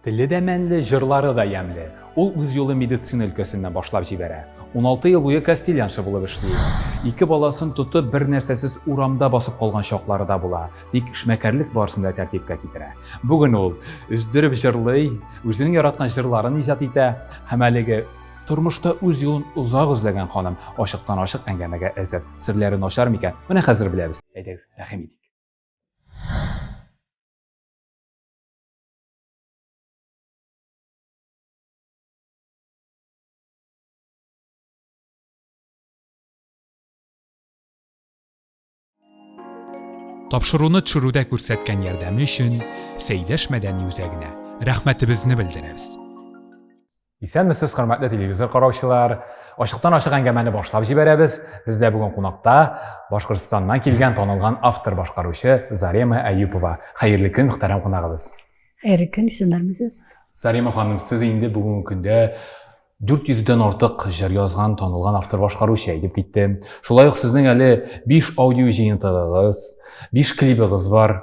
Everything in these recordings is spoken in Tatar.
Теле дә мәнле, җырлары да ямьле. Ул үз юлын медицина өлкәсеннән башлап җибәрә. Уналты ел буе кастильянша булып эшли ул. Ике баласын тотып, бернәрсәсез урамда басып калган чаклары да була, тик эшмәкәрлек барысын да тәртипкә китерә. Бүген ул өздереп җырлый, үзенең яраткан җырларын иҗат итә һәм әлеге тормышта үз юлын озак эзләгән ханым ачыктан-ачык әңгәмәгә әзер. Серләре начар микән? Менә хәзер беләбез. Әйдәгез, рәхим итик. Тапшыруны төшерүдә күрсәткән ярдәме өчен Сәйдәш мәдәни үзәгенә рәхмәтебезне белдерәбез. Исәнмесез, хөрмәтле телевизор караучылар. Ачыктан ачык әңгәмәне башлап җибәрәбез. Бездә бүген кунакта Башкортстаннан килгән танылган автор башкаручы Зарема Әюпова. Хәерле көн, мөхтәрәм кунагыбыз. Хәерле көн, исәнмесез. Зарема ханым, сез инде бүгенге көндә 400 дән артык җыр язган танылган автор башкаручы әйтеп китте. Шулай ук сезнең әле 5 аудио җыентыгыгыз, 5 клибыгыз бар.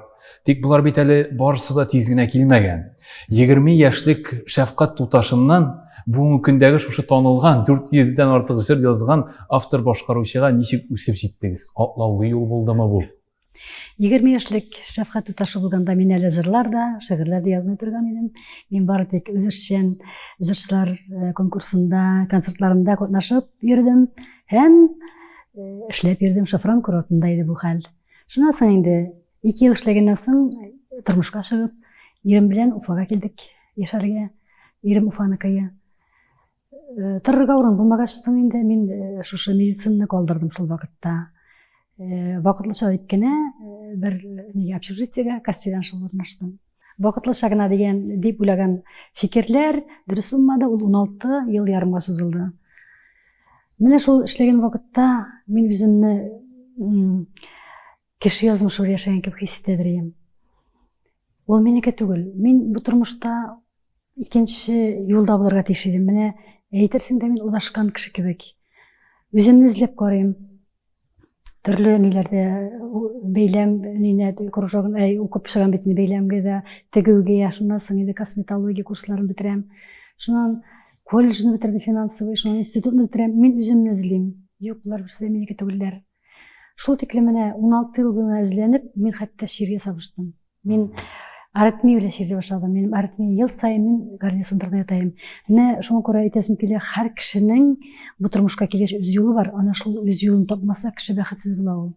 Тик болар бит әле барысы да тиз генә килмәгән. 20 яшьлек шәфкать туташыннан бүгенге көндәге шушы танылган 400 дән артык җыр язган автор башкаручыга ничек үсеп җиттегез? Катлаулы юл булдымы бу? 20 яшьлек шәфкать туташы булганда мин әле җырлар да, шигырьләр дә язмый торган идем. Мин бары тик үзешчән җырчылар э, конкурсында, концертларында катнашып йөрдем һәм э, эшләп йөрдем. Шафран курортында иде бу хәл. Шуннан соң инде ике ел эшләгәннән соң тормышка чыгып, ирем белән Уфага килдек яшәргә. Ирем Уфаныкые. Э, торырга урын булмагач соң инде мин э, шушы медицинаны калдырдым шул вакытта э, вакытлыча дип кенә бер неге общежитиега костеляншыл урнаштым Вакытлыча гына дигән дип уйлаган фикерләр дөрес булмады, ул 16 ел ярымга сузылды. Менә шул эшләгән вакытта мин үземне кеше язмышы яшәгән кебек хис итә дирем. Ул минеке түгел. Мин бу тормышта икенче юлда булырга тиеш идем. Менә әйтерсең дә мин удашкан кеше кебек. Үземне эзләп карыйм. төрле ниләрдә бәйләм нинә кружогын әй укып чыгам бит инде бәйләмгә дә тегүгә я шуннан соң инде косметология курсларын бетерәм шуннан колледжны бетердем финансовый шуннан институтны бетерәм мин үземне эзлим юк болар берсе дә минеке түгелләр шул тиклем менә уналты ел буена эзләнеп мин хәтта чиргә сабыштым Мин аритмия белән чирле башладым. Минем аритмия ел саен мин гарнизонда ятаем. Менә шуңа күрә әйтәсем килә, һәр кешенең бу тормышка килгәч үз юлы бар. Ана шул үз юлын тапмаса, кеше бәхетсез була ул.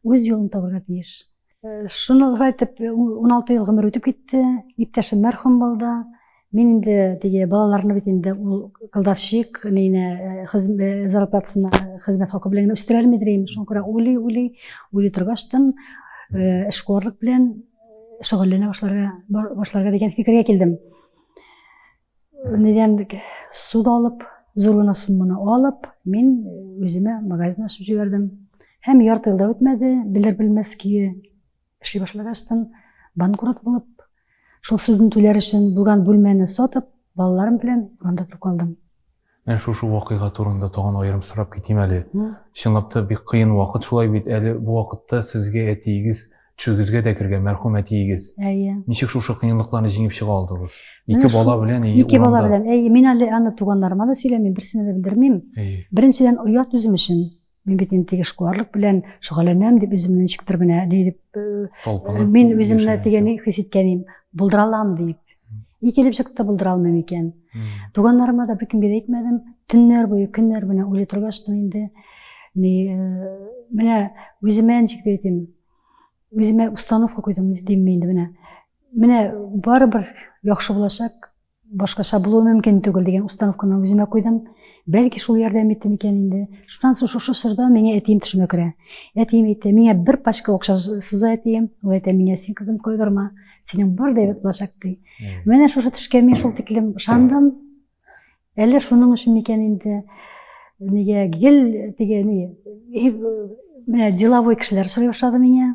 Үз юлын табарга тиеш. Э, шуны итеп, 16 э, ел гомер үтеп китте. Иптәшем мәрхүм булды. Мин инде теге балаларны бит инде ул кылдавчик нейне хезмәт зарплатасына хезмәт хакы белән генә үстерәр мидер инде. Шуңа күрә уйлый, уйлый, уйлый торгач тын эшкуарлык белән шөгыльләнә башларга башларга дигән фикергә килдем. Нидән суд алып, зур гына сумманы алып, мин үземә магазин ачып җибәрдем. Һәм ярты елда үтмәде, белер-белмәс көе Эшли башлагачтын, банкрот булып, шул судны түләр өчен булган бүлмәне сатып, балаларым белән урамда торып калдым. Менә шушы вакыйга турында тагын аерым сорап китим әле. Чынлап та бик кыен вакыт шулай бит, әле бу вакытта сезгә әтиегез төшегезгә дә кергән, мәрхүм әтиегез. Әйе. Ничек шушы кыенлыкларны җиңеп чыга алдыгыз? Ике бала белән и урамда. Ике бала белән. Әйе, мин әле аны туганнарыма да сөйләмим, берсенә дә белдермим. Әйе. Беренчедән, оят үзем өчен. Мин бит инде теге шкуарлык белән шөгыльләнәм дип үземне ничектер менә ни дип э, мин үземне дигән хис иткән идем. Булдыра алам дип. Ни килеп чыкты булдыра алмыйм икән. Туганнарыма да беркемгә дә әйтмәдем. Төннәр буе, көннәр буе уйлый торгач та инде ни э, менә үземә ничек әйтим, үземә установка куйдым димме инде менә. Менә барыбер яхшы булачак, Башкача булуы мөмкин түгел дигән установканы үземә куйдым. Бәлки шул ярдәм итте микән инде. Шуннан соң шушы чорда миңа әтием төшемә керә. Әтием әйтә, миңа бер пачка акча суза әтием. Ул әйтә, миңа син кызым кайгырма, синең бар да булачак ди. Менә шушы төшкә мин шул тиклем ышандым. Әллә шуның өчен микән инде нигә гел теге ни менә деловой кешеләр сорый башлады миңа.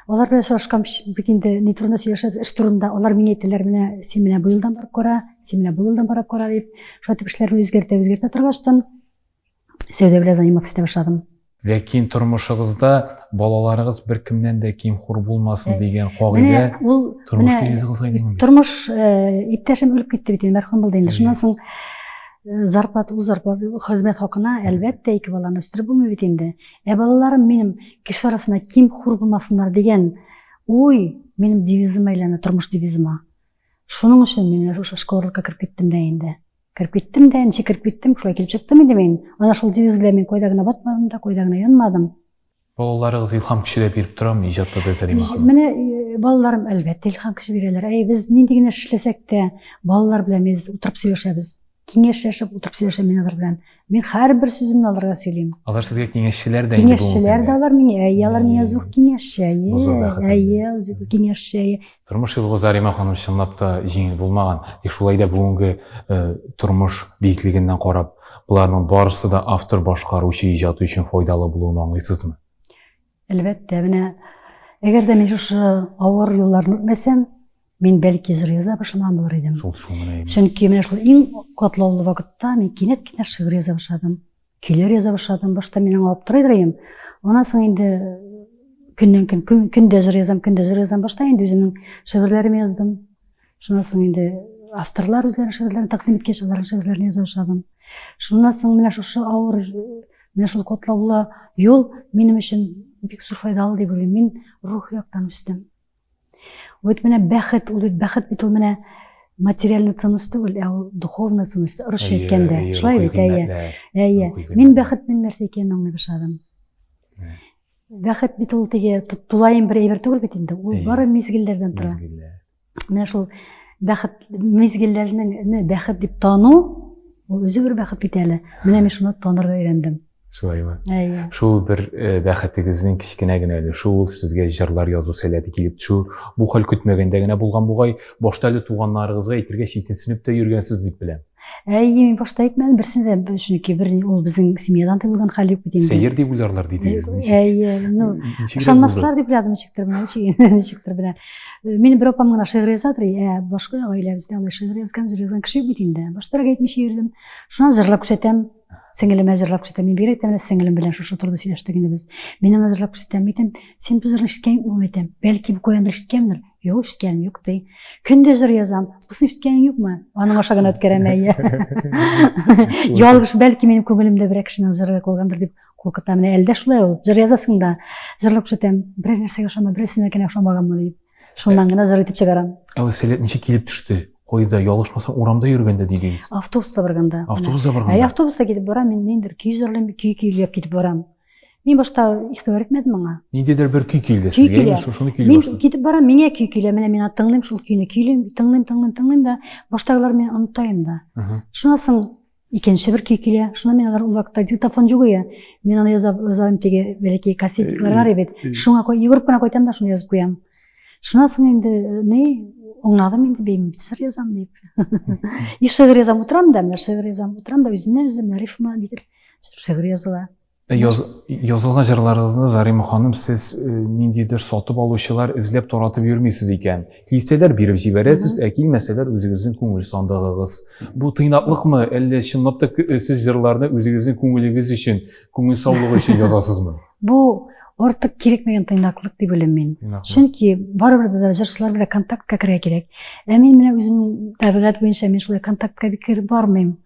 Алар белән очрашкам бит инде ни турында сөйләшәбез, эш турында. Алар миңа әйтәләр, менә син менә бу елдан барып кара, син менә бу елдан барып кара дип. Шулай итеп эшләрне үзгәртә, үзгәртә торгаштан сәүдә белән заниматься итә башладым. Ләкин тормышыгызда балаларыгыз бер кемнән дә ким хур булмасын дигән кагыйдә тормыш девизыгызга әйләнгән. Тормыш э, иптәшем үлеп китте бит инде, мәрхүм булды инде. Шуннан соң зарплата ул зарплата хезмәт хакына әлбәттә ике баланы үстереп булмый бит инде Ә балаларым минем кеше арасында ким хур булмасыннар дигән уй минем девизыма әйләнә, тормыш девизыма. Шуның өчен мин менә шушы школалыкка кереп киттем дә инде. Кереп киттем дә, ничек кереп киттем, шулай килеп чыктым инде мин. Ана шул девиз белән мин кайда гына батмадым да, кайда гына янмадым. Балаларыгыз илһам күче дә биреп торамы иҗатта да Зәлимә ханым? Менә э, балаларым әлбәттә илһам көче бирәләр. Әй, без нинди генә эшләсәк тә, балалар белән без утырып сөйләшәбез. киңәшләшеп утырып сөйләшәм мин алар белән. Мин һәрбер сүземне аларга сөйлим. Алар сезгә киңәшчеләр дә инде Киңәшчеләр дә алар миңа, әйе, алар миңа зур киңәшче, әйе, зур киңәшче, әйе. Тормыш юлы Зарима ханым чынлап та җиңел булмаган. Тик шулай да бүгенге тормыш биеклегеннән карап, боларның барысы да автор башкаручы иҗаты өчен файдалы булуын аңлыйсызмы? Әлбәттә, менә әгәр дә мин шушы авыр юлларны үтмәсәм, мин бәлки жыр яза башламаган булыр идем. Шул шул менә. Чөнки менә шул иң катлаулы вакытта мин кинәт кенә шигырь яза башладым. Көйләр яза башладым. Башта мин аңа аптырый идем. Аннан соң инде көннән көн, көн көндә жыр язам, көндә жыр язам. Башта инде үземнең шигырьләремне яздым. Шуннан соң инде авторлар үзләренең шигырьләрен тәкъдим иткәч, аларның шигырьләрен яза башладым. Шуннан соң менә шушы авыр, менә шул котлаулы юл минем өчен бик зур файдалы дип уйлыйм. Мин рух яктан үстем. Вот менә бәхет, ул бит бәхет бит ул менә материальный ценность түгел, ә ул духовный ценность, русча әйткәндә. Шулай бит, әйе. Әйе. Мин бәхетнең нәрсә икәнен аңлый башладым. Бәхет бит ул теге тулаем бер әйбер түгел бит инде. Ул бары мизгелләрдән тора. менә шул бәхет мизгелләрне бәхет дип тану ул үзе бер бәхет бит әле менә мин шуны танырга өйрәндем шулаймы әйе шул бер э, бәхетегезнең кечкенә генә өлеше ул сезгә җырлар язу сәләте килеп төшү бу хәл көтмәгәндә генә булган бугай башта әле туганнарыгызга әйтергә читенсенеп тә йөргәнсез дип беләм Әйе, мин башта әйтмәдем, берсен дә, чөнки бер ул безнең семьядан тыелган хәл юк бит инде. Сәер дип уйларлар дидегез. Әйе, ну, ышанмаслар дип уйладым ничектер менә, ничектер менә. Минем бер апам гына шигырь язадыр, ә башка гаиләбездә алай шигырь язган, җыр язган кеше юк бит инде. Баштарак әйтмичә йөрдем. Шуннан җырлап күрсәтәм. Сеңелем әзерләп күрсәтә. Мин бигрәк тә менә сеңелем белән шушы турыда сөйләштек инде без. Минем әзерләп күрсәтәм әйтәм, син бу җырны ишеткәнме әйтәм. Бәлки бу куян ишеткәндер. Юк, ишеткәнем юк ди. Көндез җыр язам. Бусын ишеткәнең юкмы? Аның аша гына үткәрәм әйе. Ялгыш, бәлки минем күңелемдә берәр кешенең җыры калгандыр дип куркытам. Менә әлдә шулай ул. Җыр язасың да, җырлап күрсәтәм. Берәр нәрсәгә ошама, берәрсенә генә ошамаганмы дип. Шуннан гына зыр итеп чыгарам. Ә ул сәләт ничек килеп төште? Койда, ялгышмасам, урамда йөргәндә дидегез. Автобуста барганда. Автобуста барганда. Ә автобуста китеп барам, мин ниндер көй җырлыйм, көй көйләп китеп барам. Мин башта игътибар итмәдем аңа. Ниндидер бер көй килде сезгә, мин шуны көйли башлады. Мин китеп барам, миңа көй килә, менә мин тыңлыйм шул көйне, көйлим, тыңлыйм, тыңлыйм, тыңлыйм да, баштагылар мин онытайм да. Шуннан соң Икенче бер көй килә. Шуна мин алар ул вакытта диктофон юк ия. Мин аны яза язам теге бәләкәй кассетиклар бар бит. Шуңа кой йөгереп кенә кайтам да шуны язып куям. Шуна соң инде э, ни оңнадым инде бим шигырь язам дип. И шигырь язам утырам да, менә шигырь язам утырам да үзеннән үзем рифма дип шигырь языла. Э, яз, язылган җырларыгызны Зарима ханым сез э, ниндидер сатып алучылар эзләп таратып йөрмисез икән. Килсәләр биреп җибәрәсез, ә килмәсәләр үзегезнең күңел сандыгыгыз. Бу тыйнаклыкмы, әллә чынлап та э, сез җырларны үзегезнең күңелегез өчен, күңел саулыгы өчен язасызмы? Бу артык кирәкмәгән тыйнаклык дип беләм мин. Чөнки барыбер дә җырчылар белән контактка керә кирәк. Ә мин менә үземнең табигать буенча мин шулай контактка бик кереп бармыйм.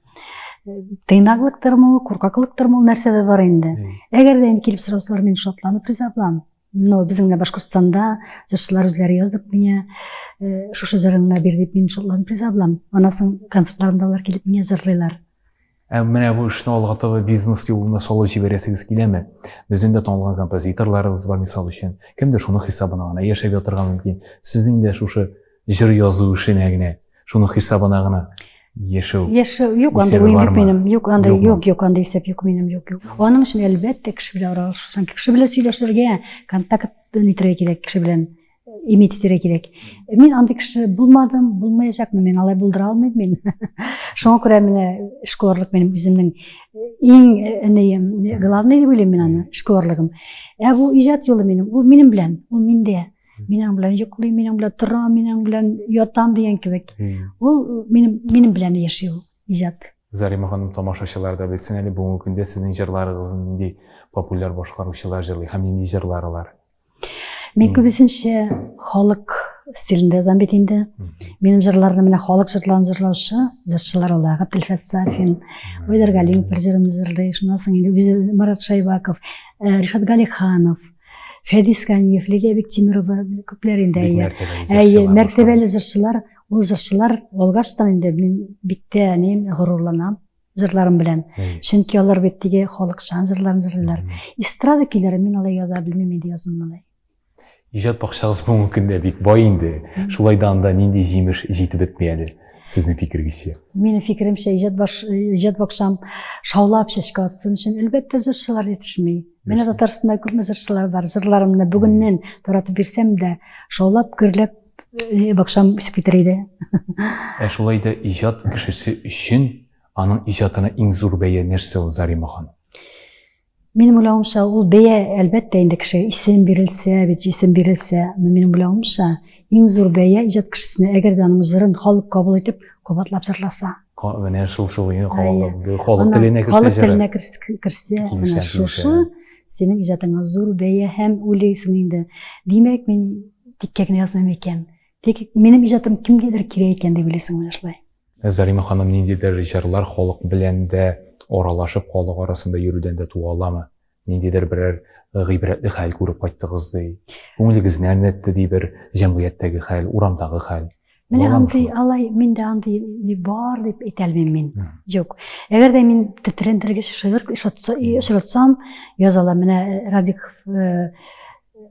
тыйнаклыктырмы ул куркаклыктырмы ул нәрсәдә бар инде әгәр дә инде килеп сорасалар мин шатланып риза булам но безнең дә башкортстанда җырчылар үзләре язып миңа э, шушы җырыңны бир дип мин шатланып риза булам аннан соң концертларымда алар килеп миңа җырлыйлар ә менә бу эшне алга таба бизнес юлына салып җибәрәсегез киләме безнең дә танылган композиторларыбыз бар мисал өчен кемдер шуның хисабына гына яшәп ятырга мөмкин сезнең дә шушы җыр язу эшенә генә Шуның хисабына гына яшәү. Яшәү юк, анда уен юк минем. Юк, анда юк, юк, анда исәп юк минем, юк, юк. Аның өчен әлбәттә кеше белән аралашырсың, кеше белән сөйләшергә, контакт итәргә кирәк кеше белән иметь итәргә кирәк. Мин андый кеше булмадым, булмаячакмын, мин алай булдыра алмыйм мин. Шуңа күрә менә эшкуарлык минем үземнең иң энеем, главный дип уйлыйм мин аны, эшкуарлыгым. Ә бу иҗат юлы минем, ул минем белән, ул миндә. Минем белән йоклый, минем белән тора, минем белән ятам дигән кебек. Ул минем минем белән яши ул иҗат. Зарима ханым тамашачылар да белсен әле бүгенге көндә сезнең җырларыгызны нинди популяр башкаручылар җырлый һәм нинди җырлар алар? Мин күбесенчә халык стилендә язам бит инде. Минем җырларны менә халык җырларын җырлаучы җырчылар ала, Габделфәт Сафин, Айдар Галимов бер җырымны җырлый, шуннан соң инде үзе Марат Шайбаков, э, Ришат Галиханов, фәдис ганиев лилия бектимирова күпләр инде әйе мәртәбәле җырчылар ул җырчылар алгачтан инде мин бик тә әни горурланам җырларым белән чөнки алар бит теге халыкчан җырларын җырлыйлар эстрада көйләрен мин алай яза белмим инде язмыйм алай иҗат бакчагыз бүгенге көндә бик бай инде шулай да анда нинди җимеш җитеп бетми әле сезнең фикерегезчә минем фикеремчә иҗат баш иҗат бакчам шаулап чәчкә атсын өчен әлбәттә җырчылар җитешми Менә Татарстанда күпме җырчылар бар. Җырларымны бүгеннән таратып бирсәм дә, шаулап, гөрләп э, бакшам үсеп китер иде. Ә шулай да иҗат кешесе өчен аның иҗатына иң зур бәя нәрсә ул Зарима ханым? Минем уйлавымча, ул бәя әлбәттә инде кеше исем бирелсә, бит исем бирелсә, но минем уйлавымча, иң зур бәя иҗат кешесенә, әгәр дә аның җырын халык кабул итеп, кабатлап җырласа. менә шул шул иң халык халык теленә керсә халык теленә керсә менә шушы синең иҗатыңа зур бәя һәм уйлыйсың инде димәк мин тиккә генә язмыйм икән тик минем иҗатым кемгәдер кирәк икән дип уйлыйсың менә шулай ә зарима ханым ниндидер җырлар халык белән дә аралашып халык арасында йөрүдән дә туа аламы ниндидер берәр гыйбрәтле хәл күреп кайттыгыз ди күңелегезне әрнетте ди бер җәмгыятьтәге хәл урамдагы хәл менә андый алай миндә андый бар дип әйтә алмыйм мин юк әгәр дә мин тетрәндергеч шигырь очратсам яза алам менә э, радик э,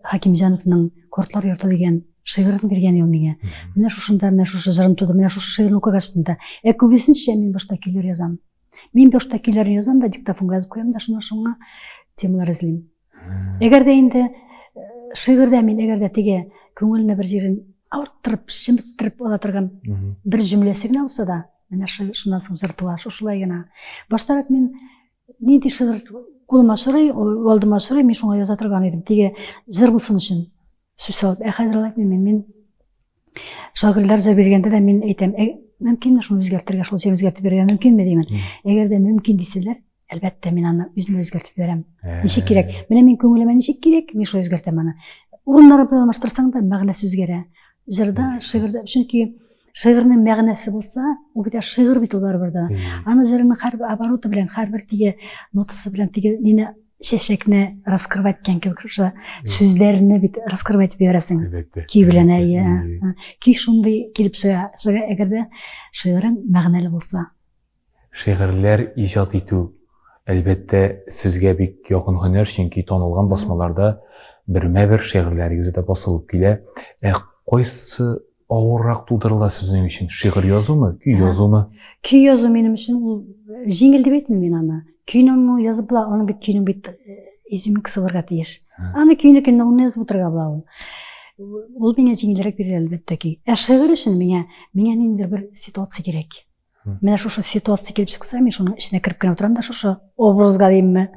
хакимҗановның кортлар йорты дигән шигырын биргән ел миңа менә шушында менә шушы җырым туды менә шушы шигырьне укыгач ә күбесенчә мин башта көйләр язам Мин башта көйләрне язам да, диктофонга язып куям да, шуннан шуңа темалар эзлим. Әгәр дә инде шигырьдә мин әгәр дә теге күңелне бер җирен авырттырып, шемттереп ала торган бер җөмләсе генә булса да, менә шуннан соң җыр туа, шушылай гына. Баштарак мин нинди шигырь кулыма сорый, алдыма сорый, мин шуңа яза торган идем. Теге җыр булсын өчен сүз салып. Ә хәзер алай мин, мин Шагыйрьләрчә биргәндә дә мин әйтәм, «Ә, мөмкинме шуны үзгәртергә, шулча үзгәртеп бирергә мөмкинме димән. Әгәр дә мөмкин дисәләр, әлбәттә мин аны үзем үзгәртеп бирәм. Ә. Ничек кирәк? Менә мин күңелемә ничек кирәк, мин шулай үзгәртәм аны. Урыннары белән алмаштырсаң да мәгънәсе үзгәрә. Җырда, шигырьдә, чөнки шигырьнең мәгънәсе булса, ул бит шигырь бит ул барыбер дә. Аны җырның һәр обороты белән, һәрбер тиге нотасы белән тиге мине чәчәкне раскрывать иткән кебек шушы сүзләрне бит раскрывать итеп җибәрәсең көй белән әйе көй шундый килеп чыга чыга әгәр дә шигырың мәгънәле булса шигырьләр иҗат итү әлбәттә сезгә бик якын һөнәр чөнки танылган басмаларда бермә бер шигырьләрегез дә басылып килә ә кайсы Авыррак тудырыла сезнең өчен шигырь язумы, көй язумы? Көй язу минем өчен ул э, җиңел дип әйтмим мин аны. Көйне ну язып була, аның бит көйнең бит э, изюминкасы булырга тиеш. Аны көйне көйне уны язып утырырга була ул. Ул миңа җиңелрәк бирелә әлбәттә ки. Ә шигырь өчен миңа миңа ниндидер бер ситуация кирәк. Менә шушы ситуация килеп чыкса, мин шуның эченә кереп кенә утырам да шушы образга димме.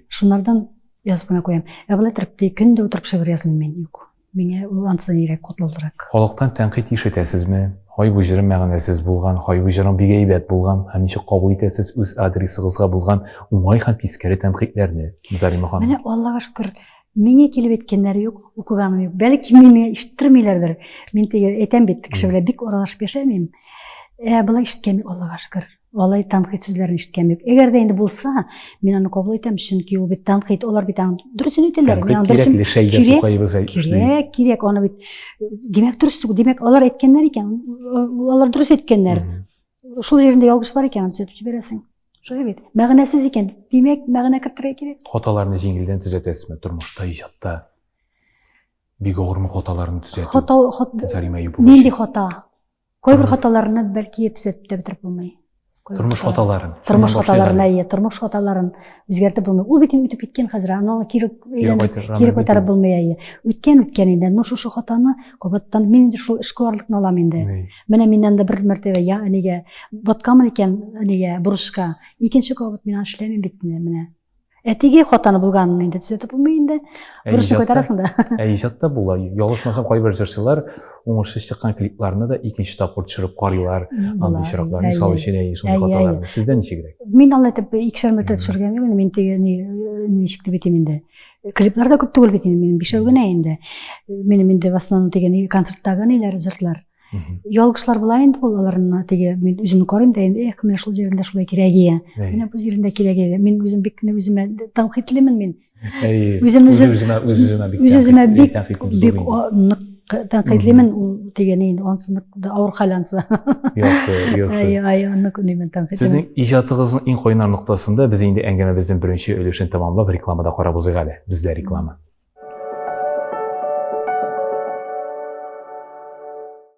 Шуннардан язып кына куям. Ә былай торып ди, көн дә утырып шигырь язмыйм мин. Юк. Миңа ул ансы нирәк котлаулырак. Халыктан тәнкыйть ишетәсезме? Хай бу җырым мәгънәсез булган, хай бу җырым бик әйбәт булган. Һәм ничек кабул итәсез үз адресыгызга булган уңай һәм тискәре тәнкыйтьләрне, Зарима ханым? Менә Аллага шөкер, Миңе килеп әйткәннәре юк, укыганым юк. Бәлки мине ишеттермиләрдер. Мин теге әйтәм бит, кеше белән бик аралашып яшәмим. Ә болай ишеткән юк, Аллага шөкер. Алай танкыйт сүзләрен ишеткән юк. Әгәр дә инде булса, мин аны кабул итәм, чөнки ул бит танкыйт, алар бит аны дөресен әйтәләр. Кирәк, кирәк, аны бит. Димәк, дөрес түгел. Димәк, алар әйткәннәр икән, алар дөрес әйткәннәр. Шул җирендә ялгыш бар икән, төзәтеп җибәрәсең. Шулай бит. Мәгънәсез икән. Димәк, мәгънә кертергә кирәк. Хаталарны җиңелдән төзәтәсезме тормышта, иҗатта? Бик авырмы хаталарны төзәтү? Хата, хат... Зарима Юпова. Нинди хата? Кайбер хаталарны бәлки төзәтеп тә бетереп булмый. Тормыш хаталарын. Тормыш хаталарын, әйе, тормыш хаталарын үзгәртеп булмый. Ул бит үтеп киткән хәзер, аны кире кире күтәреп булмый, әйе. Үткән үткән инде. Ну шушы хатаны кабаттан мин инде шул эшкуарлыкны алам инде. Менә миннән дә бер мәртәбә я әнигә батканмын икән әнигә бурычка. Икенче кабат мин эшләмим бит менә. Әтиге хатаны булганын инде төзәтеп булмый инде. Бурычны кайтарасың да. Ә иҗатта була. Ялгышмасам, кайбер җырчылар уңышсыз чыккан клипларны да икенче тапкыр төшереп карыйлар. Андый чираклар, мисал өчен, әйе, шундый хаталар. Сездә ничегрәк? Мин алай итеп икешәр мәртәбә төшергән юк, мин теге ничек дип әйтим инде. Клиплар да күп түгел бит инде минем, бишәү генә инде. Минем инде в основном дигән концерттагы ниләр җырлар. Ялгышлар була инде ул аларны теге мин үземне карыйм да инде, эх, менә шул җирендә шулай кирәгие. Менә бу җирендә кирәгие. Мин үзем бик кенә үземә тәнкыйтьлемен мин. Әйе. Үзем үземә бик бик нык тәнкыйтьлимен ул дигән инде ансынык авыр хәл ансы сезнең иҗатыгызның иң кайнар ноктасында без инде әңгәмәбезнең беренче өлешен тәмамлап рекламада карап узыйк әле бездә реклама